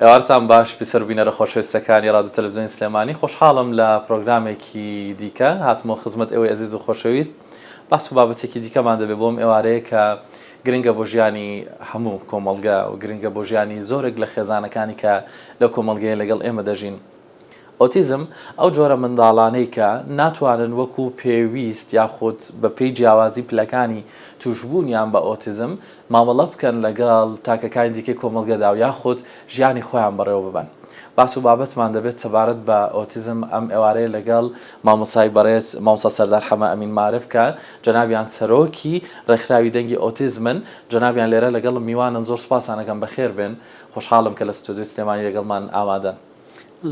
ئێوارتان باش بیسەرو بینەرە خۆشەویستەکانی ڕادیۆ تەلەفزیۆنی سلێمانی خۆشحاڵم لە پرۆگرامێکی دیکە هاتمەوە خزمەت ئێوەی ئەزیز و خۆشەویست بەحس و بابەتێکی دیکەمان دەبێت بۆم ئێوارەیە کە گرنگە بۆ ژیانی هەموو کۆمەڵگە و گرنگە بۆ ژیانی زۆرێک لە خێزانەکانی کە لەو کۆمەڵگەیە لەگەڵ ئێمە دەژین ئۆتیزم، ئەو جۆرە منداڵانەی کە ناتوانن وەکو پێویست یاخود بە پێی جیاوازی پلەکانی تووشبوونیان بە ئۆتیزم مامەڵە بکەن لەگەڵ تاکەکانی دیکەی کۆمەڵگەدا و یاخود ژیانی خۆیان بەڕێوە ببەن باس و بابەتمان دەبێت سەبارەت بە ئۆتیزم ئەم ئێوارەیە لەگەڵ مامۆستای بەڕێز مامۆستا سەردار حەمە ئەمین مارف کە جەنابیان سەرۆکی ڕێکخراوی دەنگی ئۆتیزمن جەنابیان لێرە لەگەڵم میوانن زۆر سوپاسان ئەکەم بەخێربێن خۆشحاڵم کە لە ستۆدیۆی سلێمانی لەگەڵمان ئامادەن.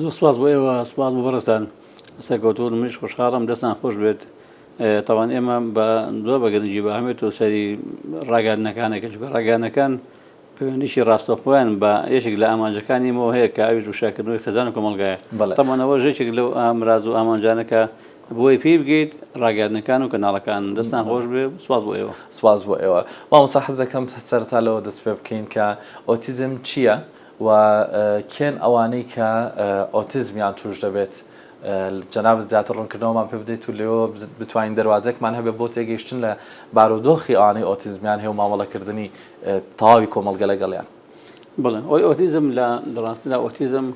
زۆر سپاس بۆ ئێوە سپاس بۆ بەڕێزتان سەرکەوتوون منیش خۆشحاڵم دەستان خۆش بێت تاوان ئێمە بە زۆر بە گرنگی بە ئەمێت و سەری ڕاگەاندنەکانەکە چکە ڕاگەانەکان پەیوەندیی ڕاستەخۆیان بە یەکێک لە ئامانجەکانی مۆ هەیە کە ئەویش وشاکردنەوەی خێزان و کۆمەڵگایە تەمانەوە ژێکێک لەو ئامراز و ئامانجانەکە بۆی پێی بگەیت ڕاگەاندنەکان و کەناڵەکان دەستان خۆش بێ سپاس بۆ ئێوە سپاس بۆ ئێوە مامۆسا حەز دەکەم سەرتا لەوە دەست پێ بکەین کە ئۆتیزم چییە و کێن ئەوانەی کە ئۆتیزمیان توش دەبێت جەنابت زیاتر ڕونکردنەوەمان پێ بدەیت و لێوە بتوانین دەروازەکمان هەبێت بۆ تێگەیشتن لە بارودۆخی ئەوانەی ئۆتیزمیان هەیە و مامەڵەکردنی تەواوی کۆمەڵگە لەگەڵیان. بەڵێ ئەوەی ئۆتیزم لە ڕاستیدا ئۆتیزم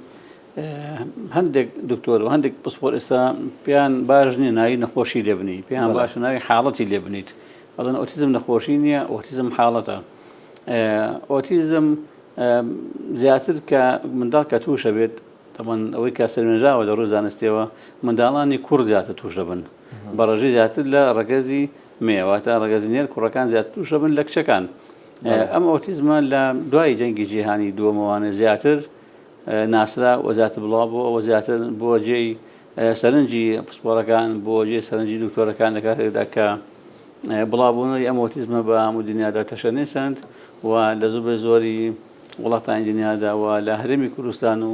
هەندێک دکتۆر و هەندێک پسپۆر ئێستا پێیان باش نییە ناوی نەخۆشی لێ بنی پێیان باشە ناوی حاڵەتی لێ بنیت بەڵێن ئۆتیزم نەخۆشی نییە ئۆتیزم حاڵەتە ئۆتیزم زیاتر کە منداڵ کە تووشە بێت تەمان ئەوەی کە سەرێنراوە لە ڕووی زانستیەوە منداڵانی کوڕ زیاتر توش دەبن بە ڕژی زیاتر لە ڕگەزی مێواتە ڕگەزی نێر کوڕەکان زیات توش دەبن لە کچەکان ئەم ئۆتیزمە لە دوای جەنگی جیهانی دووەمەوانە زیاتر ناسرا وەزیاتر بڵاو بۆ ئەوە زیاتر بۆ جێی سەرنجی پسپۆڕەکان بۆ جێی سەرنجی دکتۆرەکان لە کاتێکدا کە بڵاوبوونەوەی ئەم ئۆتیزمە بە هەموو دنیادا تەشەنەسەند و لە زۆربەی زۆری وڵاتانی دنیادا و لە هەرێمی کوردستان و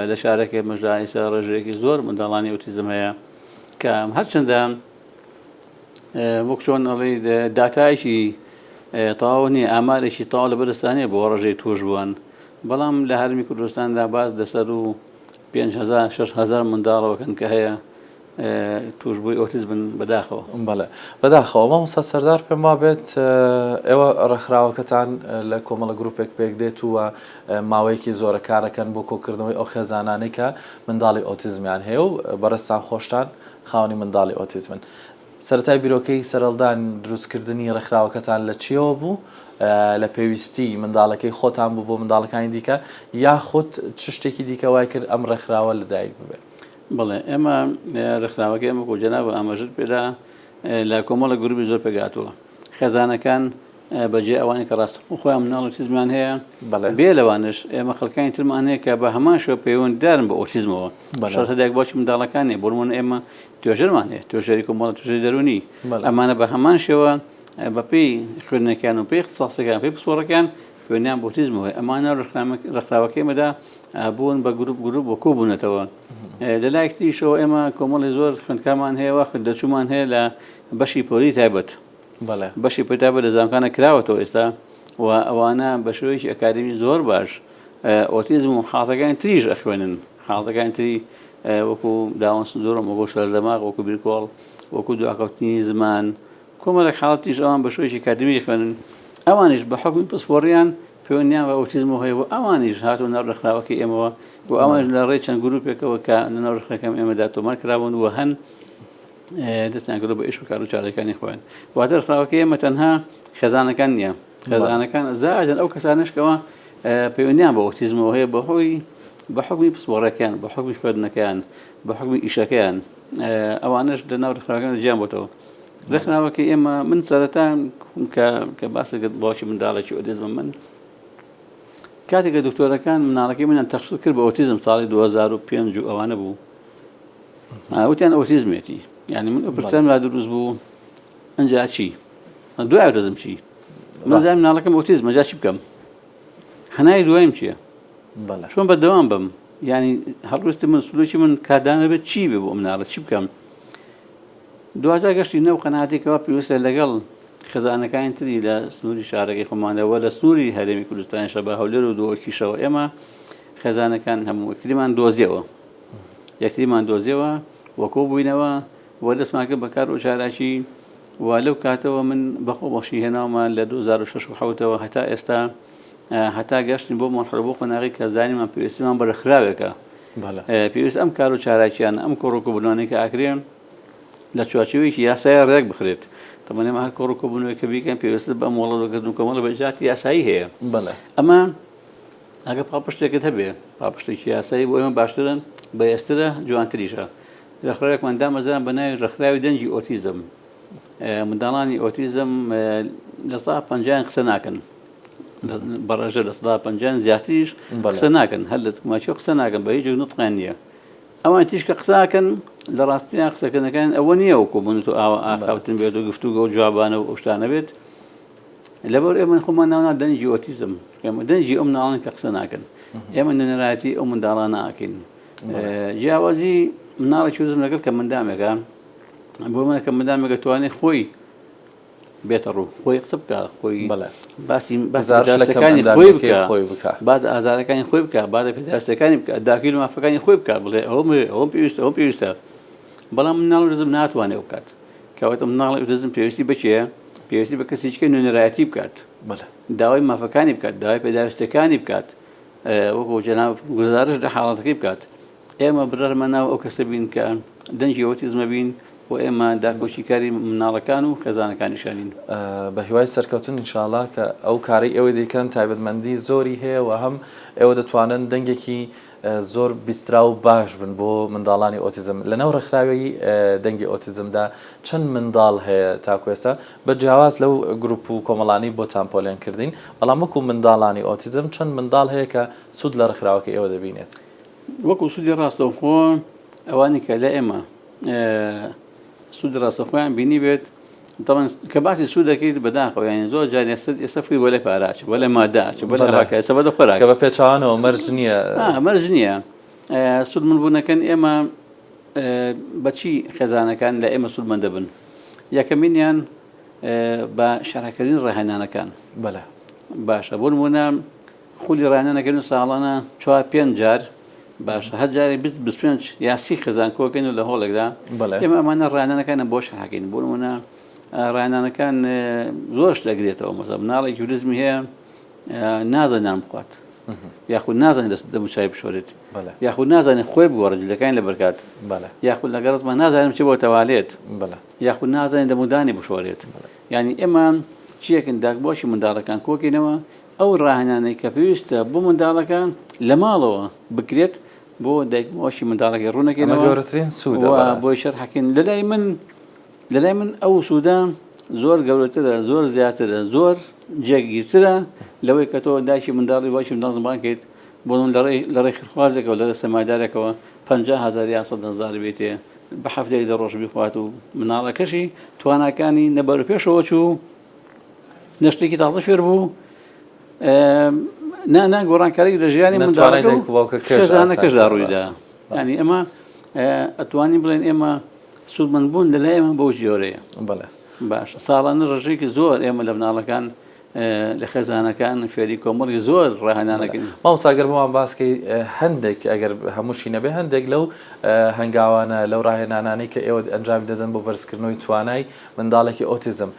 لە شارەکەی مەژدا ئێستا ڕێژەیەکی زۆر منداڵانی ئۆتیزم هەیە کە هەرچەندە وەک چۆن ئەڵێ داتایشی تەواو نییە ئامارێکی تاوا لە بەرستانەیە بۆ ڕژەی توش بوون بەڵام لە هەرمی کوردستاندا باز دەسەر و پێنج هەزار شەش هەزار منداڵەوەکەن کە هەیە توشبووی ئۆتیز بن بەداخەوە بەڵێ بەداخەوە مامۆستا سەردار پێم وابێت ئێوە ڕێکخراوەکەتان لە کۆمەڵە گروپێک پێک دێت و ماوەیەکی زۆرە کارەکەن بۆ کۆکردنەوەی ئەو خێزانانەی کە منداڵی ئۆتیزمیان هەیە و بەڕێزتان خۆشتان خاوەنی منداڵی ئۆتیزمن سەرەتای بیرۆکەی سەرەڵدان دروستکردنی ڕێکخراوەکەتان لە چییەوە بوو؟ لە پێویستی منداڵەکەی خۆتان بوو بۆ منداڵەکانی دیکە یاخود چ شتێکی دیکە وای کرد ئەم ڕێکخراوە لەدایک ببێت؟ بەڵێ، ئێمە ڕێکخراوەکەی ئێمە وەکو جەنابت ئاماژەت پێدا لە کۆمەڵێک گرووپی زۆر پێکهاتووە. خێزانەکان بەجێ ئەوانەی کە ڕاستەوخۆ خۆیان منداڵی ئۆتیزمیان هەیە، بێ لەوانەش ئێمە خەڵکانی ترمان هەیە کە بە هەمان شێوە پەیوەندیدارن بە ئۆتیزمەوە. شەرتە دایک و باوکی منداڵەکان نییە، بۆ نموونە ئێمە توێژەرمان هەیە توێژەری کۆمەڵە توێژەری دەرونی ئەمانە بە هەمان شێوە بەپی خوێندنەکان و پێی خساسەکان پێی پسپۆڕەکان خوێنیان بۆتیزمەوەی ئەمانە ڕخراوەکەی مەدا بوون بە گروپ گروپ بۆ کۆبوونەتەوە لە لایەکتریشەوە ئێمە کۆمەڵی زۆر خوندکامان هەیە واخت دەچوومان هەیە لە بەشی پۆری تایبەت بەشی پتابە لە زانکانە کراوەتەوە ئێستا و ئەوانە بە شێوەیەکی ئەکادمی زۆر باش ئۆتیزم و حاڵەکانی تریژ ئەخوێنن حاڵەتەکانی تری وەکو داون سندرۆم، وەکو شڵە دەماغ، وەکو بیرکۆڵ، وەکو دواکەوتنی زمان، کۆمەڵێک حاڵەت تریش ئەوان بە شێوەیەکی کاتدمی دەخوێنن، ئەوانیش بە حوکمی پسپۆڕییان پەیوەندییان بە ئۆتیزمەوە هەیە و ئەوانیش هاتوونە ناو ڕێکخراوەکەی ئێمەوە و ئەوانیش لە ڕێی چەند گرووپێکەوە کە لە ناو ڕێکخراکەم ئێمەدا تۆمار کراون و هەن دەستیان کردووە بە ئیش و کار و چالاکییەکانی خۆیان، واتە ڕێکخراوەکەی ئێمە تەنها خێزانەکان نییە، خێزانەکان زائەدەن ئەو کەسانەش کەوا پەیوەندیان بە ئۆتیزمەوە هەیە بەهۆی بە حکومی پسپۆڕەکەیان بە حکومی خوێندنەکەیان بە حکومی ئیشەکەیان ئەوانش لە ناو ڕخراگەن جیان بۆتەوە ڕخناوەکە ئێمە من سەرەتا کە باسە گەت باوکی منداڵێکی ئۆتیزمە من کاتێکە دکتۆرەکان مناڵەکەی منیان تەخصص کرد بە ئۆتیزم ساڵی 2005 و ئەوانە بوو وتیان ئۆتیزمێتی یعنی من ئەو پرسیان لا دروست بوو ئەجا چی دوای دەزم چی من زانم ناڵەکەم ئۆتیزمە جا چی بکەم هەنای دوایم چییە چۆن بە دەوام بم ینی هەڵویستی من سلوکی من کادانە بێت چی بێ بۆ ئەم ناڵە چی بکەم دوجا گەشتی نەو قەناتێکەوە پێویستە لەگەڵ خزانەکانی تری لە سنووری شارەکەی خۆمانەوە لە سنووری هەرێمی کوردستانی شەبا هەولێر و دۆکیشەوە ئێمە خێزانەکان هەموو یەکتریمان دۆزیەوە یەکتریمان دۆزیەوە وەکۆ بووینەوە و دەستمان کرد بە کار و چالاکی و لەو کاتەوە من بە خۆبەخشی هێناومە لە دوو هەزار و شەش و حەوت ەوە هەتا ئێستا هەتا گەشتین بۆ مەرحەلە بۆ قۆناغی کە زانیمان پێویستیمان بە رێکخراوێکە پێویست ئەم کار و چالاکییانە ئەم کۆڕ و کۆبوونانەی کە ئاکرێن لە چوارچێوەیەکی یاساییە رێک بخرێت تەمەن ئێمە هەر کۆڕ و کۆبوونەوەی کە بیکەین پێویستە بە مۆڵەتکردن و کۆمەڵە بە ئیجراتی یاسایی هەیە ئەمە ئەگە پاڵپشتێکت هەبێ پاڵپشتێکی یاسایی بۆ ئێمە باشترە بەهێزترە جوانتریشە ڕێکخراوێکمان دامەزراند بە ناوی ڕێکخراوی دەنگی ئۆتیزم. منداڵانی ئۆتیزم لە سەدا پەنجایان قسە ناکەن. بە ڕێژە لە سەدا پەنجایان زیاتریش قسە ناکەن هەر لە ماچی قسە ناکەن بە هیچ نوتقیان نییە. ئەوان تیشکە قساکەن لە ڕاستیان قسەکردنەکان ئەوە نییە وەکو من تۆ ئاوا ئاخاوتن بێت و گفتوگە و جوابانە و ئەوشتانە بێت لەبەر ئێمە خۆمان ناونا دەنگی ئۆتیزم ئێمە دەنگی ئەم ناڵن کە قسە ناکەن ئێمە نوێنەرایەتی ئەو منداڵانە ئاکەین جیاوازی مناڵێکی وزم لەگەڵ کە مندامێکە بۆ منە کە مندامێک دەتوانێت خۆی بێتە ڕوو خۆی قسە بکە خۆی باسی بەزارەکانی خۆی بکە خۆی بکە باز ئازارەکانی خۆی بکە با لە پێداستەکانی بکە داکیل مافەکانی خۆی بکە بڵێ ئەو ئەو پێویستە ئەو پێویستە بەڵام مناڵ رزم ناتوانێ بکات کەواتە مناڵ رزم پێویستی بچێ پێویستی بە کەسیچکە نوێنەرایەتی بکات داوای مافەکانی بکات داوای پێداویستەکانی بکات وەکو جەناب گوزارش لە حاڵەتەکەی بکات ئێمە بڕەرمە ناو ئەو کەسە بین کە دەنگی ئۆتیزمە بین و ئێمە داکۆشیکاری مناڵەکان و خێزانەکانیشانین بە هیوای سەرکەوتن انشاءاللە کە ئەو کارەی ئێوەی دەیکەن تایبەتمەندی زۆری هەیە و هەم ئێوە دەتوانن دەنگێکی زۆر بیسترا و باش بن بۆ منداڵانی ئۆتیزم لەناو ڕێکخراوی دەنگی ئۆتیزمدا چەند منداڵ هەیە تاکوێستا بە جیاواز لەو گروپ و کۆمەڵانەی بۆتان پۆلێن کردین، بەڵام وەکو منداڵانی ئۆتیزم چەند منداڵ هەیە کە سوود لە ڕێکخراوەکەی ئێوە دەبینێت؟ وەکو سوودی ڕاستەوخۆ ئەوانەی کە لای ئێمە سوودی ڕاستەوخۆیان بینیبێت، دەڵێن کە باسی سوود دەکەیت بەداخەوە یانی زۆر جار ئێستا ئێستا فکری بۆ لای پارە ئەچێت، بۆ لای مادە ئەچێت، بۆ لای ئەوە ئەکات، ئێستا بۆ لای خۆراک. کە بە پێچەوانەوە مەرج نییە. مەرج نییە سوودمەندبوونەکەن ئێمە. بەچی خێزانەکان لە ئێمە سوود مەندەبن؟ یەکەمینیان بە شەرحکردنی ڕاهێنانەکان. بەلە. باشە بۆ نموونە خولی ڕاهێنانەکەین و ساڵانە چوار پێنج جار باشە هەر جارێک بیست بیست پێنج یا سی خێزان کۆکەین و لە هۆڵێکدا بەلە. ئێمە ئەمانە ڕاهێنانەکانە بۆ شەرحکەین بۆ نموونە ڕاهێنانەکان زۆرش دەگرێتەوە مەسەڵەن مناڵێکی ئوتیزمی هەیە نازانێت نان بخوات یاخود نازانێت دەست دەموچای بشۆرێت یاخود نازانێت خۆی بگۆڕێت جلەکانی لەبەرکات یاخود لەگە ڕزمان نازانم چی بۆ تەوالێت یاخود نازانێت دەمودانی بشۆرێت ینی ئێمە چیەکن داک بۆچی منداڵەکان کۆکینەوە ئەو ڕاهێنانەی کە پێویستە بۆ منداڵەکە لە ماڵەوە بکرێت بۆ دایکمەوەشی منداڵەکە ڕوونەکەی گەورەترین سوود بۆ شەر حەکەین لەلای من لەلای من ئەو سوودە زۆر گەورەترە، زۆر زیاترە، زۆر جێگیرترە لەوەی کە تۆ دایکی منداڵی و باوکی منداڵ زمبان کەیت بۆ من لە ڕێی لە ڕێی خیرخوازێکەوە لە ڕێی سەرمایەدارێکەوە پەنجا هەزار یا سەد هەزار بێتێ بە هەفتەیەک دە ڕۆژ بیخوات و مناڵەکەشی تواناکانی نە بەروپێشەوە چوو نە شتێکی تازە فێر بوو نە نە گۆڕانکاری لە ژیانی منداڵەکە و خێزانەکەشدا ڕوویدا ینی ئەمە ئەتوانی بڵێن ئێمە سوودمەند بوون لە لای ئێمە بەو جۆرەیە. بەڵێ. باشە ساڵانە ڕێژەیەکی زۆر ئێمە لە مناڵەکان لە خێزانەکان فێری کۆمەڵی زۆر ڕاهێنانەکەن مامۆساگەر بۆمان باسکەی هەندێک ئەگەر هەمووشی نەبێ هەندێک لەو هەنگاوانە لەو ڕاهێنانانەی کە ئێوە ئەنجامی دەدەن بۆ بەرزکردنەوەی توانای منداڵێکی ئۆتیزم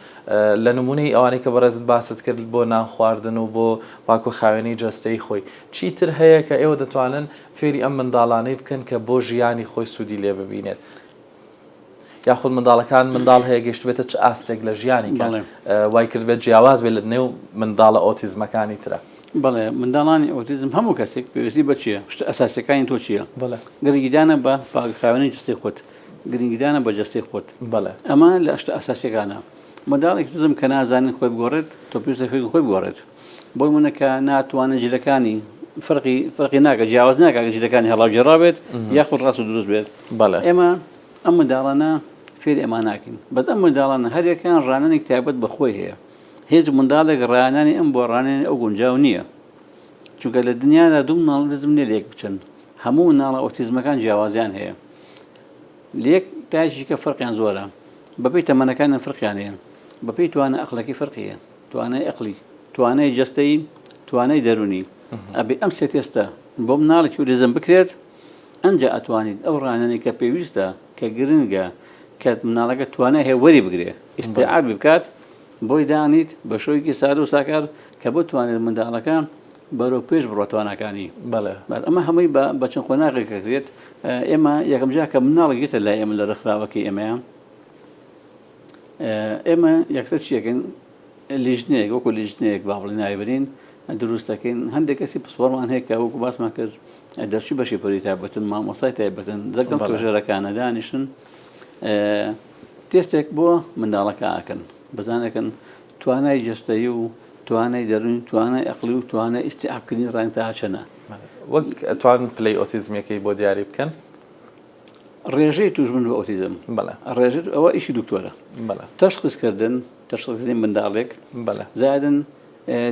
لە نمونەی ئەوانەی کە بەڕێزت باست کرد بۆ نان خواردن و بۆ پاکو خاوێنی جەستەی خۆی چیتر هەیە کە ئێوە دەتوانن فێری ئەم منداڵانەی بکەن کە بۆ ژیانی خۆی سوودی لێ ببینێت یاخود منداڵەکان منداڵ هەیە گەشتبێتە چ ئاستێک لە ژیانی کەڵێ وای کردبێت جیاواز بێت لە نێو منداڵە ئۆتیزمەکانی ترە بڵێ منداڵانی ئۆتیزم هەموو کەسێک پێویستی بچیە شتە ئەساسەکانی تۆ چییە گرنگیدانە بە پاکخاوێنی جستی خۆت گرنگیدانە بە جستی خۆت بڵێ ئەمە لە شتە ئەساسەکانە منداڵێک دزم کە نازانین خۆی بگۆڕێت تۆ پێویستە فێری خۆی بگۆڕێت بۆ نمونە کە ناتوانن جلەکانی فرقی فرقی ناکە جیاواز ناکە جلەکانی هەڵاوجێڕا بێت یاخود ڕاست و دروست بێت بەڵێ ئێمە ئەم منداڵانە فێری ئەمە ناکەین بەس ئەم منداڵانە هەرێکان ڕانەنێک تایبەت بەخۆی هەیە هێز منداڵێک ڕانانی ئەم بۆ ڕانێن ئەو گونجاو نییە چونکە لە دنیادا دوو مناڵ بزم لێ لێک بچن هەموو مناڵە ئۆتیزمەکان جیاوازیان هەیە لێک تاژیکە فەرقیان زۆرە بەپی تەمەەکانیان فرقیانەیە بەپی توانە ئەخلەکی فرقیە توانای ئەقڵی، توانای جەستەیی، توانای دەروونی. ئەبێ ئەم سێ تێستە بۆ مناڵی توریزم بکرێت، ئەنجا ئەتوانیت ئەو ڕانەنی کە پێویستە، کە گرنگە، کە مناڵەکە توانای هەیە وەری بگرێ، ئیستیعابی بکات، بۆی دانیت، بە شێوەیەکی سادە و ساکار کە بتوانێت منداڵەکە بەرەو پێش بڕوا تواناکانی. بەڵێ. ئەمە هەمووی بە بە چەند قۆناغێک ئەکرێت. ئێمە یەکەم جار کە مناڵێک دێتە لای ئێمە لە ڕێکخراوەکەی ئێمەیە، ئێمە یەکسەر چی دەکەین؟ لیژنەیەک وەکو لیژنەیەک با بڵێ ناوی برین دروست دەکەین هەندێک کەسی پسپۆڕمان هەیە کە وەکو باسمان کرد دەرچوی بەشی پەروی تایبەتن مامۆستای تایبەتن دەگەڵ بەڵێ. توێژەرەکانە دانیشن ئێ، تێستێک بۆ منداڵەکە ئەکەن بزانەکەن توانای جەستەیی و توانای دەروونی توانای ئەقڵی و توانای ئیستیعابکردنی ڕایان تا چەنە. وەک ئەتوان پلەی ئۆتیزمیەکەی بۆ دیاری بکەن؟ ڕێژەی توشبوون بە ئۆتیزم بەڵێ ڕێژە ئەوە ئیشی دکتۆرە بەڵێ تەشخیص کردن تەشخیص کردنی منداڵێک بەڵێ زادن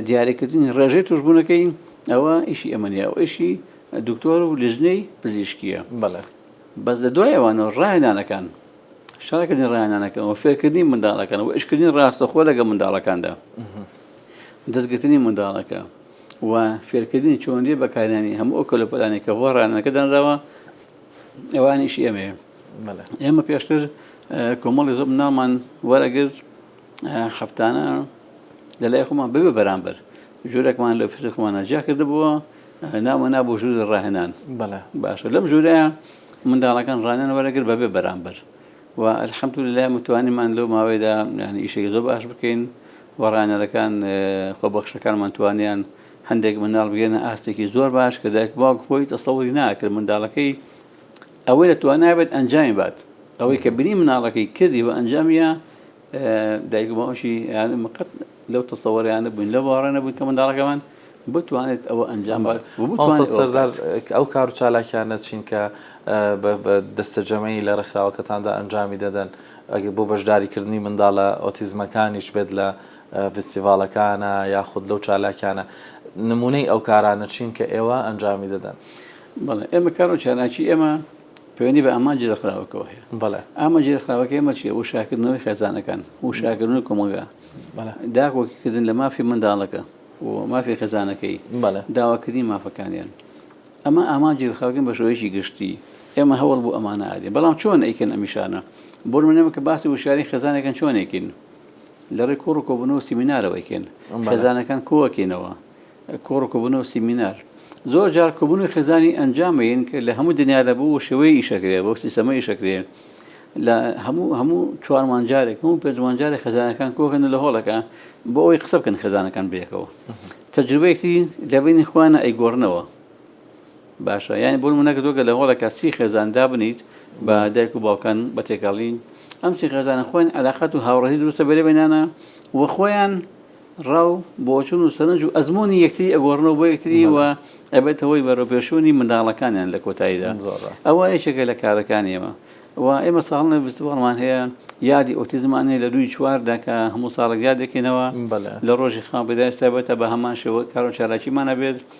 دیاریکردنی ڕێژەی توشبوونەکەی ئەوە ئیشی ئەمە نیە ئەو ئیشی دکتۆر و لژنەی پزیشکیە بەڵێ بەس لە دوای ئەوانەوە ڕاهێنانەکان شارکردنی ڕاهێنانەکەن و فێرکردنی منداڵەکان و ئیشکردنی ڕاستەخۆ لەگە منداڵەکاندا دەستگرتنی منداڵەکە و فێرکردنی چۆندی بەکارانی هەموو ئەو کەلوپەلانی کە بۆ ڕانەکە دانراوە ئەوانیش ئێمەیە ئێمە پێشتر کۆمەڵی زۆب نامان وەرەگرت هەفتانە لە لای خۆمان ببێ بەرامبەر ژورێکمان لە فزە خۆمان ناجیا کردبووە ناوە نابوو ژور ڕاهێنان باشە لەم ژورە منداڵەکان ڕانیان وەرەگر بەبێ بەرامبەر و ئەلحەمت لە متوانیمان لەو ماوەیدا یعنی ئیشێکی زۆر باش بکەین وەڕانەرەکان خۆبەخشەکانمان توانیان هەندێک منداڵ بگەنە ئاستێکی زۆر باش کە دایک باوک خۆی تەسەوری ناکرد منداڵەکەی ئەوەی لە توانابێت ئەنجامی بات ئەوەی کە بری مناڵەکەی کردی و ئەنجامیە دایک باوشی مقت لەو تەسەوەریانە بووین لە باڕێنە بووین کە منداڵەکەمان بتوانێت ئەوە ئەنجام سەردار ئەو کار و چالاکیانە چین کە بە دەستەجەمەی لە ڕێکخراوەکەتاندا ئەنجامی دەدەن ئەگە بۆ بەشداریکردنی منداڵە ئۆتیزمەکانیش بێت لە فیستیڤاڵەکانە یاخود لەو چالاکیانە نمونەی ئەو کارانە چین کە ئێوە ئەنجامی دەدەن؟ بەڵێ ئێمە کارۆ چالاکی ئێمە پەیوەندی بە ئامانجی ڕێکخراوەکەەوە هەیە بەڵێ ئامانجی ڕێکخراوەکە ئێمە چیە وشاکردنەوەی خێزانەکان وشاکردنی کۆمەڵگا داکۆکیکردن لە مافی منداڵەکە و مافی خێزانەکەی داواکردنی مافەکانیان ئەمە ئامانجی ڕخاوگەن بە شێوەیەکی گشتی ئێمە هەوڵ بۆ ئەمانە ئادێ بەڵام چۆن ئەیکەن ئەمیشانە بۆ منەمە کە باسی وشاری خێزانەکەن چۆنێکین لەڕێی کۆڕ و کۆبوونەوە و سیمینارەوە ئەیکەین. خێزانەکان کۆ ئەکەینەوە. کۆڕ و کۆبوونەوە و سیمینار. زۆر جار کۆبوونەوەی خێزانی ئەنجام ئەیەین کە لە هەموو دنیا لە بەو شێوەیە ئیش ئەکرێ، بەو سیستەمە ئیش ئەکرێ. لە هەموو هەموو چوار مانگ جارێک، هەموو پێنج مانگ جارێک خێزانەکان کۆ ئەکەن لە هۆڵەکە بۆ ئەوەی قسە بکەن خێزانەکان بەیەکەوە. تەجروبەیەکتری لە بەینی خۆیانا ئەیگۆڕنەوە. باشە یانی بۆ نمونە کە تۆ گەر لە هۆڵێکا سی خێزان دابنیت بە دایک و باوکان بە تێکەڵین ئەم سی خێزانە خۆیان عەلاقەت و هاوڕێی دروستە بەرێ بەینانا و خۆیان ڕاو بۆچون و سەرنج و ئەزمموی یەکتری ئەگۆڕنەوە بۆ یەکتری و ئەبێت هەوەی بەرەپێشوونی منداڵەکانیان لە کۆتاییدا ئەوە یەکێکە لە کارەکانی ئێمە و ئێمە ساڵنە ویستوەڵمان هەیە یادی ئۆتیزمان هەیە لە دووی چواردا کە هەموو ساڵێک یادێکینەوە لە ڕۆژی خاپدای تابێتە بە هەمان شێوە کارۆ چالاکیمانە بێت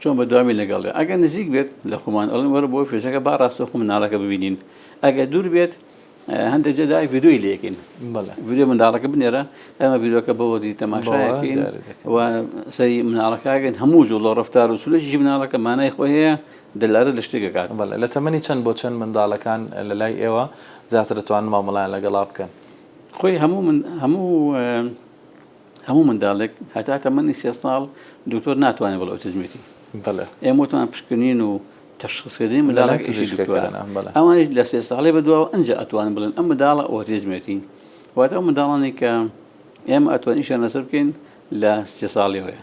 چۆن بەدوامی لەگەڵێ ئەگەر نزیک بێت لە خۆمان ئەڵێن وەرە بۆ فێشەکە با ڕاستەخۆ مناڵەکە ببینین ئەگەر دوور بێت هەندێک جێدا ڤیددیوی لەکەین ڤیددیو منداڵەکە بنێرە ئەمە بیرۆکە بەوەزی تەماشاکەین و سەری مناڵەکەگەن هەموو زوو لە ڕفتار و سولەشی مناڵەکە مانای خۆی هەیە دلارە لە شتێکەکات لە تەمەنی چەند بۆ چەند منداڵەکان لە لای ئێوە زیاتر دەتوان مامەڵیان لەگەڵا بکەن خۆی هەموو من هەموو هەموو منداڵێک هەتا تەمەنی سێ ساڵ دکتۆر ناتوانێت بڵێ ئۆتیزمێتی. بەڵێ. ئێمە وتمان پشکنین و تەشخیصکردنی منداڵێک ئیشی دکتۆرە. بەڵێ. ئەوانیش لە سێ ساڵی بەدواوە ئەنجا ئەتوانن بڵێن ئەم منداڵە ئۆتیزمێتی. واتە ئەو منداڵانەی کە ئێمە ئەتوانین ئیشیان لەسەر بکەین لە سێ ساڵیەوەیە.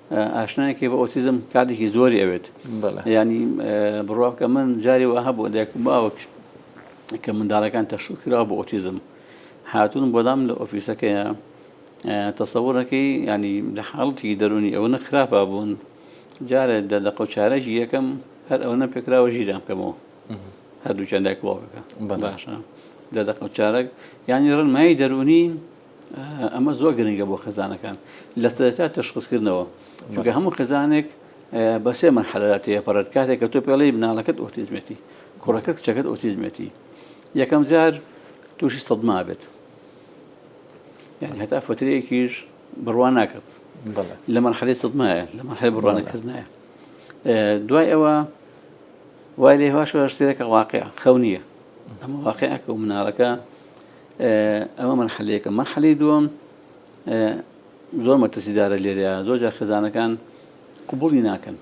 ئاشنایەکی بە ئۆتیزم کاتێکی زۆری ئەوێت ینی بڕواکە من جاری وە هەبوو دایکم باوک کە منداڵەکان تەشو کرا بۆ ئۆتیزم هاتون بۆدام لە ئۆفیسەکەیە تەسەورەکەی ینی لە حاڵەتی دەرونی ئەوە نەخراپا بوون جارە دە دە قوچارەکی یەکەم هەر ئەو نە پێکراوە ژیران کەمەوە هەردووچەندای کڵۆکەکە باشە دە دە قوچارەک ینی ڕنمایی دەرونی ئەمە زۆر گرنگە بۆ خێزانەکان لە سەرەتا تەشخصکردنەوە چونکە هەموو خێزانێک بە سێ مەرحەلەدا تێپەڕێت کاتێک کە تۆ پێڵی مناڵەکەت ئۆتیزمێتی کوڕەکەت کچەکەت ئۆتیزمێتی یەکەم جار تووشی سەدما بێت یعنی هەتا فترەیەکیش بڕوان ناکرد لە مەرحەلی سەدمایە لە مەحل بڕوانەکردنایە دوای ئەوە وای لێ هواش سێرەکە واقع خەونیە ئەمە واقعەکە و مناڵەکە ئەمە مەرحەلە یەکەم. مەرحەلەی دووەم زۆر مەترسیدارە لێرە، زۆر جار خێزانەکان قبوڵی ناکەن.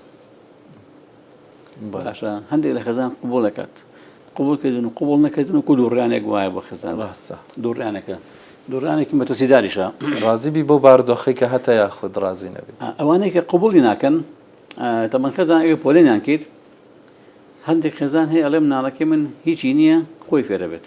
باشە هەندێک لە خێزان قبوڵ دەکات. قبوڵ کردن و قبوڵ نەکردن و کو دووڕیانێک وایە بۆ خێزان. ڕاستە. دووڕیانەکە. دووڕیانێکی مەترسیداریشە. ڕازی بی بەو بارودۆخەی کە هەتە یاخود ڕازی نەبیت. ئەوانەی کە قبوڵی ناکەن، تەبەن خێزان ئەگەر پۆلێنیان کرد، هەندێک خێزان هەیە ئەڵێ مناڵەکەی من هیچی نییە، خۆی فێرەبێت.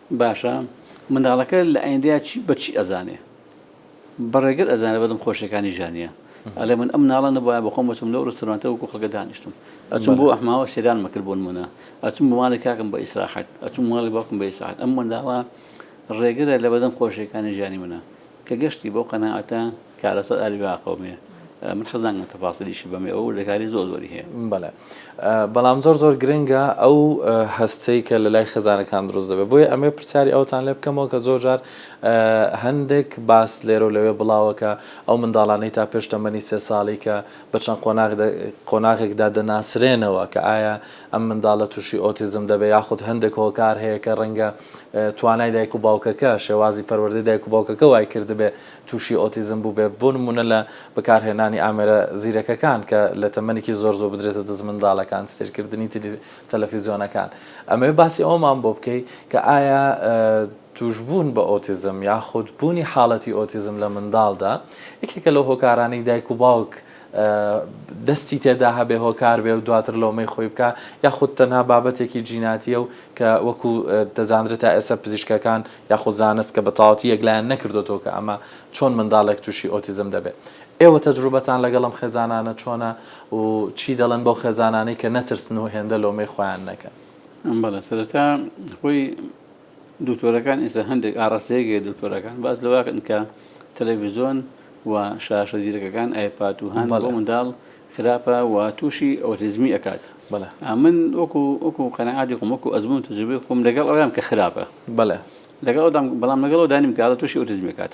باشە منداڵەکە لە ئایندەیا چی بە چی ئەزانێ بە ڕێگر ئەزانە بەدم خۆشیەکانی ژانە ئەلێ من ئەم ناڵە نەبایە بەخۆم بچم لەو ڕستورانتە وکو خەکە دانیشتم ئەچم بۆ ئەحماوە سێران مەکرد بۆن منە ئەچم بمانە کاکم بە ئیسراحەت ئەچم ماڵی باکم بە ئیساحەت ئەم منداڵە ڕێگرە لە بەدەم خۆشیەکانی ژانی منە کە گەشتی بەو قەناعەتە کا لەسەر ئالی باقومێ من حەزان لە تەفاسیلیشی بەمێ ئەو وردەکاری زۆر زۆری هەیە بەڵێ بەڵام زۆر زۆر گرنگە ئەو هەستەی کە لە لای خێزانەکان دروست دەبێت بۆیە ئەمێ پرسیاری ئەوتان لێ بکەمەوە کە زۆر جار هەندێک باس لێرە و لەوێ بڵاوەکە ئەو منداڵانەی تا پێش تەمەنی سێ ساڵی کە بە چەند قۆناغێکدا دەناسرێنەوە کە ئایا ئەم منداڵە تووشی ئۆتیزم دەبێت یاخود هەندێک هۆکار هەیە کە ڕەنگە توانای دایک و باوکەکە، شێوازی پەروەردەی دایک و باوکەکە وای کردبێ تووشی ئۆتیزم بووبێ، بۆ نموونە لە بەکارهێنانی ئامێرە زیرەکەکان کە لە تەمەنێکی زۆر زوو بدرێتە دەست منداڵەکان، سەیرکردنی تەلەفیزیۆنەکان. ئەمەوێ باسی ئەوەمان بۆ بکەی کە ئایا تووشبوون بە ئۆتیزم یاخود بوونی حاڵەتی ئۆتیزم لە منداڵدا یەکێکە لەو هۆکارانەی دایک و باوک دەستی تێدا هەبێ هۆکار بێ و دواتر لۆمەی خۆی بکا یاخود تەنها بابەتێکی جیناتیە و کە وەکو دەزاندرێت تا ئێستا پزیشکەکان یاخود زانست کە بەتەواوەتی یەکلایان نەکردۆتەوە کە ئەمە چۆن منداڵێک توشی ئۆتیزم دەبێ ئێوە تەجروبەتان لەگەڵ ئەم خێزانانە چۆنە و چی دەڵێن بەو خێزانانەی کە نەترسن و هێندە لۆمەی خۆیان نەکەن؟ بەڵێ سەرەتا خۆی دکتۆرەکان ئێستا هەندێک ئاڕاستەیەک هەیە دکتۆرەکان باس لەوە ئەکەن کە تەلەڤیزۆن و شاشە زیرەکەکان ئایپات و هەند بۆ منداڵ خراپە و تووشی ئۆتیزمی ئەکات بەڵێ ئەمن وەکو وەکو قەنەعاتی خۆم وەکو ئەزموون و تەجروبەی خۆم لەگەڵ ئەوەم کە خراپە بەڵێ لەگەڵ ئەوەدام بەڵام لەگەڵ ئەوەدا نیم کە ئەڵێ تووشی ئۆتیزمی ئەکات.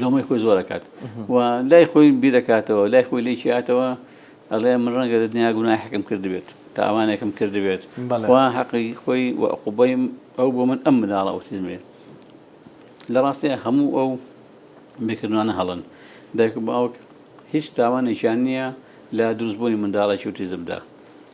لۆمەی خۆی زۆر ئەکات و لای خۆی بیرەکاتەوە لای خۆی لێکی هاتەوە ئەڵێ من ڕەنگە لە دنیا گوناحەکەم کردبێت تاوانێکم کردبێت بەڵێ. خوا حەقی خۆی و عقوبەی ئەو بۆ من ئەم مناڵە ئۆتیزمێ لە ڕاستێ هەموو ئەو بکردوانە هەڵن دایک و باوک هیچ تاوانێکیان نییە لە دروستبوونی منداڵێکی ئۆتیزمدا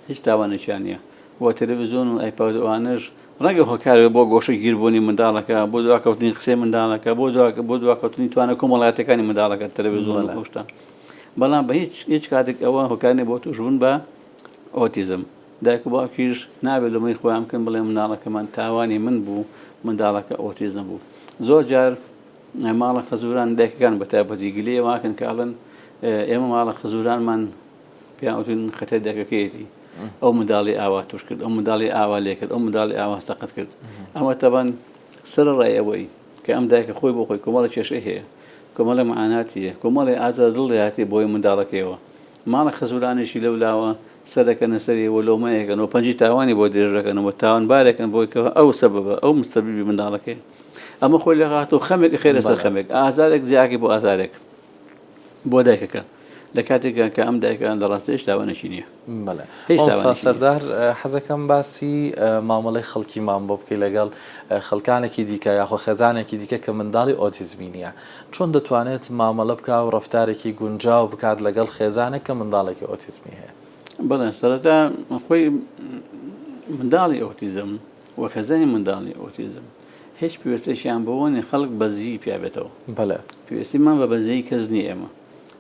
هیچ تاوانێکیان نییە و تەلەڤیزیۆن و ئایپاد و ئەوانەش ڕەنگە هۆکار بێت بۆ گۆشەگیربوونی منداڵەکە، بۆ دواکەوتنی قسەی منداڵەکە، بۆ بۆ دواکەوتنی توانە کۆمەڵایەتیەکانی منداڵەکە تەلەڤیزیۆن و ئەو شتە. بەڵام بە هیچ هیچ کاتێک ئەوە هۆکار نیە بۆ تووشبوون بە ئۆتیزم. دایک و باوکیش نابێت لۆمەی خۆیان بکەن بڵێن منداڵەکەمان تاوانی من بوو منداڵەکە ئۆتیزم بوو. زۆر جار ماڵە خەزوران دایکەکان بە تایبەتی گلەیی ئەوە ئەکەن کە ئەڵێن ئێمە ماڵە خەزورانمان پێیان وتوون خەتای دایکەکەیەتی، ئەو منداڵی ئاوا تووش کرد، ئەو منداڵی ئاوا لێ کرد، ئەو منداڵی ئاوا سەقەت کرد. ئەمە تەبان سەرەڕای ئەوەی کە ئەم دایکە خۆی بۆ خۆی کۆمەڵێ کێشەی هەیە، کۆمەڵێ مەعاناتی هەیە، کۆمەڵێ ئازار دڵ دەیاتێ بۆی و منداڵەکەیەوە. ماڵە خەزوورانێکی لەو لاوە سەر دەکەنە سەری و لۆمە ئەکەن و پەنجەی تاوانی بۆ درێژ دەکەن و تاوانبار ئەکەن بۆی کە ئەو سەبەبە، ئەو مسەبیبی منداڵەکەیە. ئەمە خۆی لەخاتوو خەمێک ئەخەێتە سەر خەمێک، ئازارێک جیاکەی بۆ ئازارێک. بۆ دایکەکە لە کاتێکە کە ئەم دایکە لە ڕاستە هێشتا وانەشی نییە هێشتا سەردار حەزەکەم باسی مامەڵی خەڵکیمان بۆ بکەی لەگەڵ خەڵکانێکی دیکە یاخۆ خێزانێکی دیکە کە منداڵی ئۆتیزمی نیە چۆن دەتوانێت مامەڵە بکە و ڕفتارێکی گونجاو بکات لەگەڵ خێزانێک کە منداڵێکی ئۆتیزمی هەیە بەڵێن سەرەتا خۆی منداڵی ئۆتیزم وەک هەزاری منداڵی ئۆتیزم هێچ پێوستێکیان بەوە نیە خەڵک بەزیی پیا بێتەوە. بەلێ. پێوستیمان بە بەزەیی کەس نیە ئێمە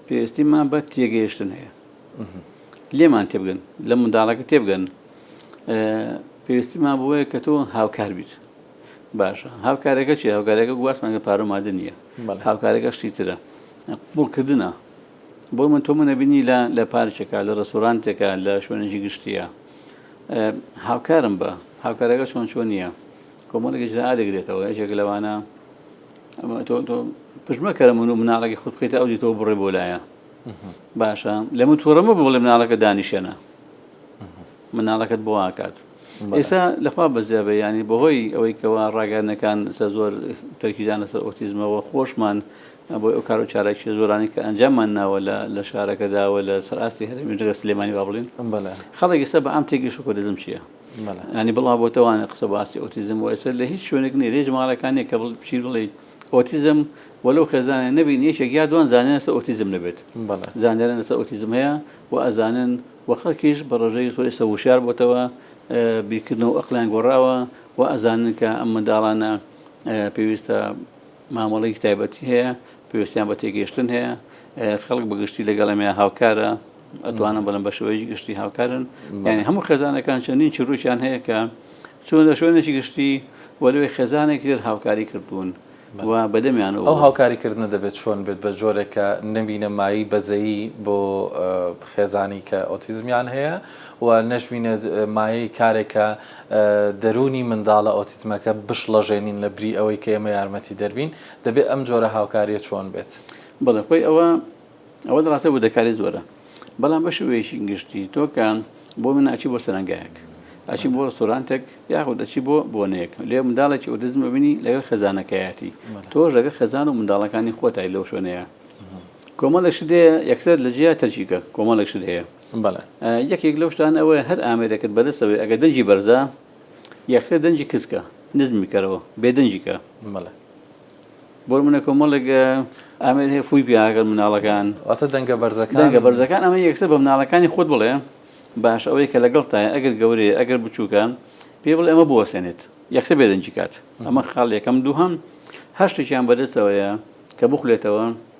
پێوستیمان بە تێگەیشتن هەیە. لێمان تێبگەن، لە منداڵەکە تێبگەن. پێوستیمان بەوەیە کە تۆ هاوکار بیت. باشە هاوکارەکە چیە؟ هاوکارەکە گواستمان کە پارە و مادە نیە. بەلێ. هاوکارەکە شتی ترە. قبوڵکردنە. بۆ من تۆ منت بینی لە لە پارکێکا، لە ڕێستۆرانتێکا، لە شوێنێکی گشتییا. هاوکارم بە هاوکارەکە چۆن چۆن نییە کۆمەڵێک ئجراء دەگرێتەوە یەکێک لەوانە پژمەکەرە من و مناڵەکە خود بکەیتە ئەو دیتەوە بڕێ بۆ لایە باشە لە من تووڕەمە بڵێ مناڵەکە دانیشێنە مناڵەکەت بۆ ئاکات ئێستا لەخوا بەزیابێ ینی بەهۆی ئەوەی کەوا ڕاگەرنەکان سە زۆر تەرکیدان لەسەر ئۆتیزمەوە خۆشمان بۆیە ئەو کارو چالاکیە زۆرانەی کە ئەنجاممان ناوە لە لە شارەکەدا و لە سەر ئاستی هەرێمیش جگە سلێمانی با بڵێین خەڵک ئێستا بە ئام تێگەیشت شۆکۆدزم چیە یانی بڵاو بۆتەوانە قسە بە ئاستی ئۆتیزم و ئێستا لە هیچ شوێنێک نیە لە هیچ ماڵەکان نیە کە بچی بڵێی ئۆتیزم وەلەو خێزانێ نەبین یەکێک یا دوان زانیان لەسەر ئۆتیزم نەبێت زانیان لەسەر ئۆتیزم هەیە و ئەزانن و خەڵکیش بە ڕێژەی زۆر ئێستا وشیار بۆتەوە بیرکردنەوە ئەقلیان گۆڕاوە و ئەزانن کە ئەم منداڵانە پێویستە مامەڵەیەکی تایبەتی هەیە، پێویستیان بە تێگەیشتن هەیە، خەڵک بە گشتی لەگەڵ ئەمەیان هاوکارە، ئەتوانم بڵێم بە شێوەیەکی گشتی هاوکارن، یانی هەموو خێزانەکان چەندین چیرۆکیان هەیە کە چوونە شوێنێکی گشتی و لەوێ خێزانێکی تر هاوکاری کردوون و بە دەمیانەوە بووە. ئەو هاوکاریکردنە دەبێت چۆن بێت؟ بە جۆرێک کە نەبینە مایەی بەزەیی بۆ خێزانی کە ئۆتیزمیان هەیە و نەشبینێت مایەی کارێک کە. دەروونی منداڵە ئۆتیزمەکە بشڵەژێنین لە بری ئەوەی کە ئێمە یارمەتیدەر بین، دەبێت ئەم جۆرە هاوکارییە چۆن بێت؟ بەڵێ خۆی ئەوە ئەوە دەڕاستە وردەکاری زۆرە بەڵام بە شێوەیەکی گشتی تۆ کە بۆ من ئەچی بۆ سەرەنگایەک ئەچی بۆ ڕستۆرانتێک یاخود دەچی بۆ بۆنەیەک لێ منداڵێکی ئۆتیزم ببینی لەگەڵ خەزانەکەیەتی تۆش لەگەڵ خەزان و منداڵەکانی خۆتای لەو شوێنەیە کۆمەڵێک شت هەیە یەکسەر لە جیا تەرکیکە کۆمەڵێک شت هەیە بەڵێ. یەکێک لەو شتانە ئەوەیە هەر ئامێرێکت بەدەستە بێ ئەگەر دەنگی بەرزە یەکسەر دەنگی کز کە، نزمی کەرەوە، بێ دەنگی کە. بەڵێ. بۆ نموونە کۆمەڵێک ئامێر هەیە فووی پێ ئەکەن مناڵەکان. واتە دەنگە بەرزەکان. دەنگە بەرزەکان ئەمە یەکسەر بە مناڵەکانی خۆت بڵێ باش ئەوەی کە لەگەڵتایە ئەگەر گەورەیە ئەگەر بچووکە پێی بڵێ ئەمە بوەستێنێت یەکسەر بێ دەنگی کات. ئەمە خاڵ یەکەم. دووهەم هەر شتێکیان بەدەستەوەیە کە بخولێتەوە،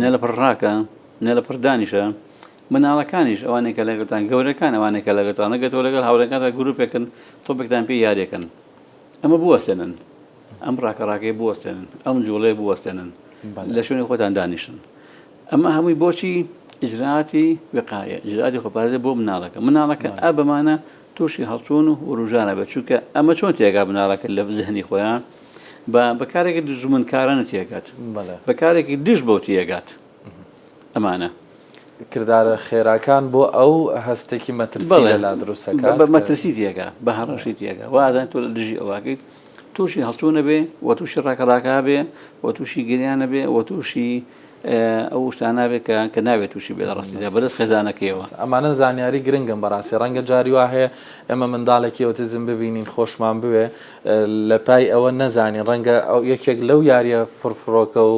نە لەپڕ ڕاکە، نە لەپڕ دانیشە. مناڵەکانیش، ئەوانەی کە لەگەڵتان، گەورەکان، ئەوانەی کە لەگەڵتانن، گەر تۆ لەگەڵ هاوڕێکانتا گروپێکن، تۆپێکتان پێ یاریەکەن. ئەمە بوەستێنن. ئەم ڕاکە ڕاکەیە بوەستێنن. ئەم جوڵەیە بوەستێنن. لە شوێنی خۆتان دانیشن. ئەمە هەمووی بۆچی؟ ئیجرائاتی وقایە، ئیجرائاتی خۆپارێزە بۆ مناڵەکە. مناڵەکە ئا بەمانە. تووشی هەڵچوون و ورووژان ئەبێت، چونکە ئەمە چۆن تێگا بناڵەکە لە زهنی خۆیان بە بە کارێکی دوژمنکارانە تێگات، بە کارێکی دژ بەو تێگات، ئەمانە. کردارە خێراکان بۆ ئەو هەستێکی مەترسی لەلا دروست ئەکات. بە مەترسی تێگا، بە هەڕەشەی تێگا، وا ئەزانێت تۆ لە دژی ئەو ئاکەیت، تووشی هەڵچوونە بێ و تووشی ڕاکەڕاکا بێ و تووشی گریانە بێ و تووشی ئەو شتانە بێ کە کە ناوێت تووشی بێ لە ڕاستیدا بەدەست خێزانەکەیەوە ئەمانە زانیاری گرنگم بەڕاستی ڕەنگە جاری وا هەیە ئێمە منداڵێکی ئۆتیزم ببینین خۆشمان بوێ لە پای ئەوە نەزانین ڕەنگە ئەو یەکێک لەو یاریە فرفرۆکە و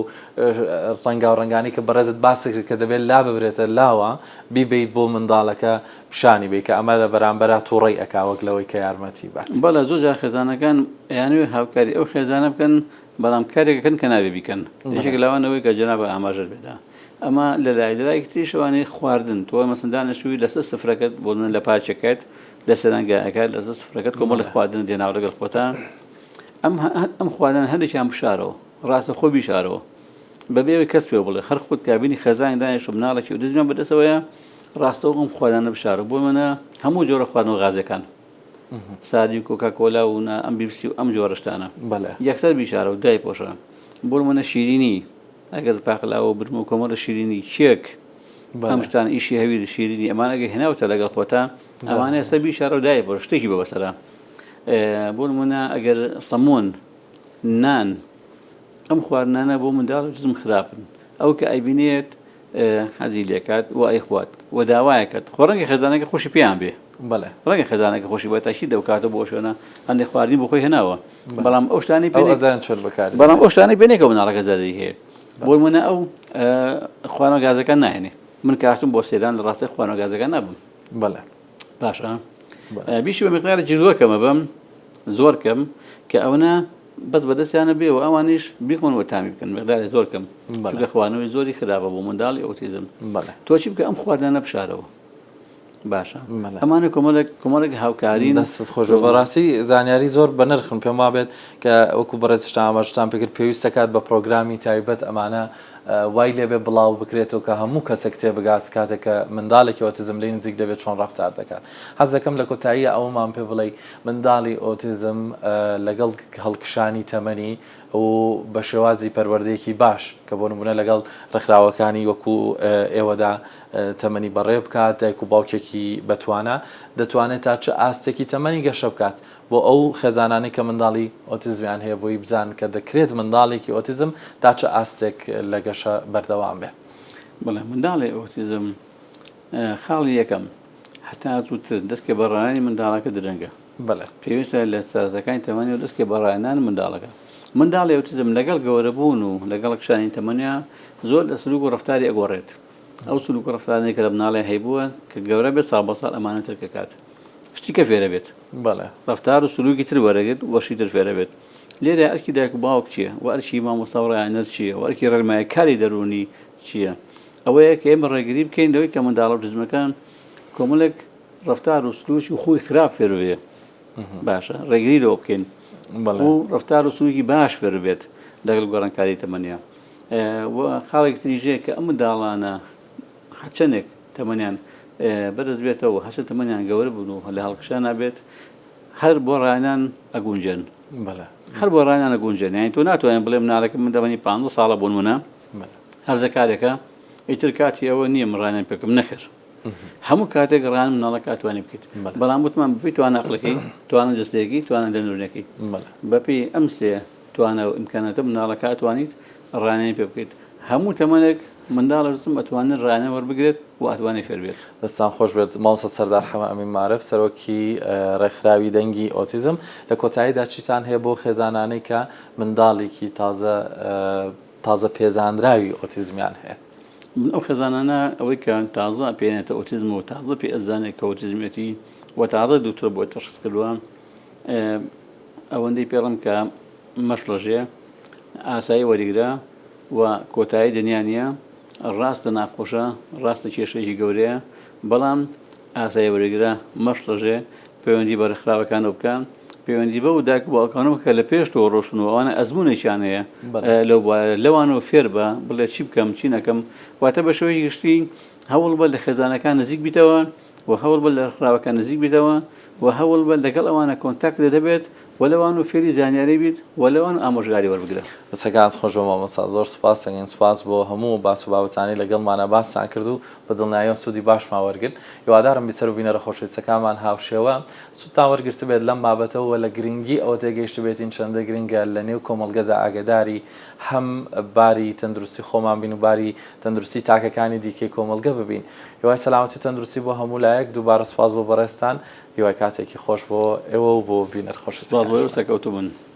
ڕەنگاو ڕەنگانی کە بەڕێزت باسی کرد کە دەبێت لا ببرێتە لاوە بیبیت بۆ منداڵەکە پیشانی بەی کە ئەمە لە بەرامبەرا توڕەی ئەکا وەک لەوەی کە یارمەتی بات. بەڵێ زۆر جار خێزانەکان ئەیانەوێ هاوکاری ئەو خێزانە بکەن بەڵام کارێک ئەکەن کە نابێ بیکەن یەکێک لەوان ئەوەی کە جەنابت ئاماژەت پێدا ئەمە لە لای لە لایەکی تریش ئەوانەی خواردن تۆ مەسەن دانیشتووی لەسەر سفرەکەت بۆ منە لە پاچەکەت لە سەرەنگایەکە لەسەر سفرەکەت کۆمەڵی خواردنت دێناوە لەگەڵ خۆتە ئەم ئەم خواردنە هەندێکیان بشارەوە ڕاستە خۆ بیشارەوە بەبێ ئەوەی کەس پێ بڵێ هەر خۆت کابینی خێزانێک دانیشتوو مناڵێکی و دزیان بەدەستەوەیە ڕاستەوخۆ ئەم خواردنانە بشارە، بۆ نموونە هەموو جۆرە خواردنەوە غازییەکان، سادی و کۆکاکۆلا و نا ئەم بیپسی و ئەم جۆرە شتانە یەکسەر بیشارە و دایپۆشە، بۆ نموونە شیرینی، ئەگەر پاقلاوە و برمە و کۆمەڵە شیرینی، کێک، ئەم شتانە، ئیشی هەویر، شیرینی، ئەمانە ئەگەر هێناوتە لەگەڵ خۆتا، ئەمانە یەکسەر بیشارە و دایپۆشە، شتێکی بۆ بەسەرە، بۆ نموونە ئەگەر سەموون، نان، ئەم خواردنانە بۆ منداڵی جزم خراپن، ئەو کە ئەیبینێت، حەزی لێکات و ئەیخوات و داوایەکەت خۆ ڕەنگە خێزانەکە خۆشی پێیان بێ بەڵێ ڕەنگە خێزانەکە خۆشی بە تاکی دەوکاتە بۆ شوێنە هەندێک خواردنی بۆ خۆی هێناوە بەڵام ئەو شتانی پێ ئەزان چۆن بکات بەڵام ئەو شتانی پێ نێکە مناڵەکە زەرری هەیە بۆ منە ئەو خوانە گازەکان ناهێنێ من کاستم بۆ سێدان لە ڕاستە خوانە گازەکان نابم بەڵێ باشە بیشی بە مقدارە جلوەکەمە بم زۆر کەم کە ئەوە بەس بەدەستیانە بێ و ئەوانیش بیخۆن و تامی بکەن مقداری زۆر کەم چونکە خواردنەوەی زۆری خراپە بۆ منداڵی ئۆتیزم تۆ چی بکە ئەم خواردنانە بشارەوە باشە ئەمانە کۆمەڵێک کۆمەڵێک هاوکاری دەست خۆش بەڕاستی زانیاری زۆر بە نرخن پێم وابێت کە وەکو بەڕێزشتان ئاماژتان پێکرد پێویست دەکات بە پرۆگرامی تایبەت ئەمانە وای لێبێ بڵاو بکرێتەوە کە هەموو کەسێک تێ بگات کاتێک کە منداڵێکی ئۆتیزم لی نزیک دەبێت چۆن ڕفتار دەکات حەز دەکەم لە کۆتایی ئەومان پێ بڵێ منداڵی ئۆتیزم لەگەڵ هەڵکشانی تەمەنی و بە شێوازی پەروەردەیەکی باش کە بۆ نموونە لەگەڵ ڕێکخراوەکانی وەکو ئێوەدا تەمەنی بەڕێ بکات، دایک و باوکێکی بەتوانا دەتوانێت تا چ ئاستێکی تەمەنی گەشە بکات بۆ ئەو خێزانانەی کە منداڵی ئۆتیزمیان هەیە بۆی بزانن کە دەکرێت منداڵێکی ئۆتیزم تا چ ئاستێک لە گەشە بەردەوام بێت. بەڵێ منداڵی ئۆتیزم خاڵی یەکەم هەتا زووتر دەستکە بە ڕاهێنانی منداڵەکە درەنگە. بەڵێ. پێویستە لە سەرەتاکانی تەمەنیەوە دەستکە بە ڕاهێنان منداڵەکە. منداڵی ئەوتیزم لەگەڵ گەورەبوون و لەگەڵ کشانی تەمەنیا زۆر لە سلوک و ڕەفتاری ئەگۆڕێت. ئەو سلوک و ڕەفتارانەی کە لە منداڵیا هەیبووە کە گەورە بێت ساڵ بە ساڵ ئەمانە ترک ئەکات. شتی کە فێر ئەبێت. بەڵێ. ڕەفتار و سلوکی تر وەرەگرت و شتی تر فێر ئەبێت. لێرەیا ئەرکی دایک و باوک چییە؟ وە ئەرکی مامۆستا و ڕاهێنەر چییە؟ وە ئەرکی ڕێنماییکاری دەروونی چییە؟ ئەوەیە کە ئێمە ڕێگری بکەین لەوەی کە منداڵە ئۆتیزمەکان کۆمەڵێک ڕەفتار و سلووک و خووی خراپ فێر ببێ. باشە ڕێگری لەوە بکەین و ڕەفتار و سلووکی باش فێر ببێت لەگەڵ گۆڕانکاری تەمەنیا. و خاڵێکی تریش هەیە کە ئەم منداڵانە هەرچەندێک تەمەنیان بەرز بێتەوە، هەرچەند تەمەنیان گەورە بن و لە هەڵکشانە بێت، هەر بۆ ڕایانان ئەگونجێن. هەر بۆ ڕایانان ئەگونجێن. یانی تۆ ناتوانیت بڵێ منداڵێکم من تەمەنی پانزە ساڵە بۆ نموونە، بەلێ. هەرزەکارێکە ئیتر کاتی ئەوە نییە من ڕانیان پێ بکەم، نەخێر. هەموو کاتێک ڕان مناڵەکە ئەتوانی بکەیت. بەلێ. بەڵام وتمان بەپێی توانا ئەقڵەکەی، توانا جەستەیەکەی، توانا دەروونەکەی. بەلێ. بەپێی ئەم سێ توانا و ئیمکاناتە مناڵەکە ئەتوانیت ڕانیانی پێ بکەیت. هەموو تەمەنێک منداڵ و جسم ئەتوانێت ڕانیان وەربگرێت و ئەتوانێت فێر بێت. دەستتان خۆش بێت مامۆستا سەردار حەمە ئەمین مارف، سەرۆکی ڕێکخراوی دەنگی ئۆتیزم. لە کۆتاییدا چیتان هەیە بۆ خێزانانەی کە منداڵێکی تازە تازە پێزانراوی ئۆتیزمیان هەیە. من ئەو خێزانانە ئەوەی کە تازە پێیانێتە ئۆتیزم و تازە پێی ئەزانێت کە ئۆتیزمێتی و تازە دوکتۆر بۆی تەشخیس کردووە ئەوەندەی پێڵم کە مەشڵەژێ ئاسایی وەریگرە و کۆتایی دنیا نییە ڕاستە ناخۆشە ڕاستە کێشەیەکی گەورەیە بەڵام ئاسای وەرگرە، مەشڵەژێ، پەیوەندی بە ڕێکخراوەکانەوە بکە، پەیوەندی بەو دایک و باوکانەوە بکە لە پێش تۆ ڕۆشتن و ئەوانە ئەزموونێکیان هەیە لەو بوارە، لەوانەوە فێربە، بڵێ چی بکەم، چی نەکەم. واتە بە شێوەی گشتی هەوڵ بە لە خێزانەکان نزیک بیتەوە و هەوڵ بە لە ڕێکخراوەکان نزیک بیتەوە و هەوڵ بە لەگەڵ ئەوانە کۆنتاکتت هەبێت وە لەوان و فێری زانیاری بیت وە لەوان ئامۆژگاری وەربگرە. دەستەکانت خۆش بێت مامۆستا زۆر سوپاست دەکەین سوپاس بۆ هەموو باس و بابەتانەی لەگەڵمانا باستان کرد و بە دڵنیاییەوە سوودی باشمان وەرگرت هیوادارم بیسەر و بینەرە خۆشەویستەکانمان هاوشێوە سوودتان وەرگرتبێت لەم بابەتە و لە گرنگی ئەوە تێگەیشتبێتین چەندە گرنگە لە نێو کۆمەڵگەدا ئاگەداری هەم باری تەندروستی خۆمان بین و باری تەندروستی تاکەکانی دیکەی کۆمەڵگە ببین هیوای سەلامەتی و تەندروستی بۆ هەموو لایەک دووبارە سوپاس بۆ بەڕێزتان هیوای کاتێکی خۆش بۆ ئێوە و بۆ بینەر خۆشەویستەکانیشمان. سپاس بۆ ئێوە سەرکەوتوبن.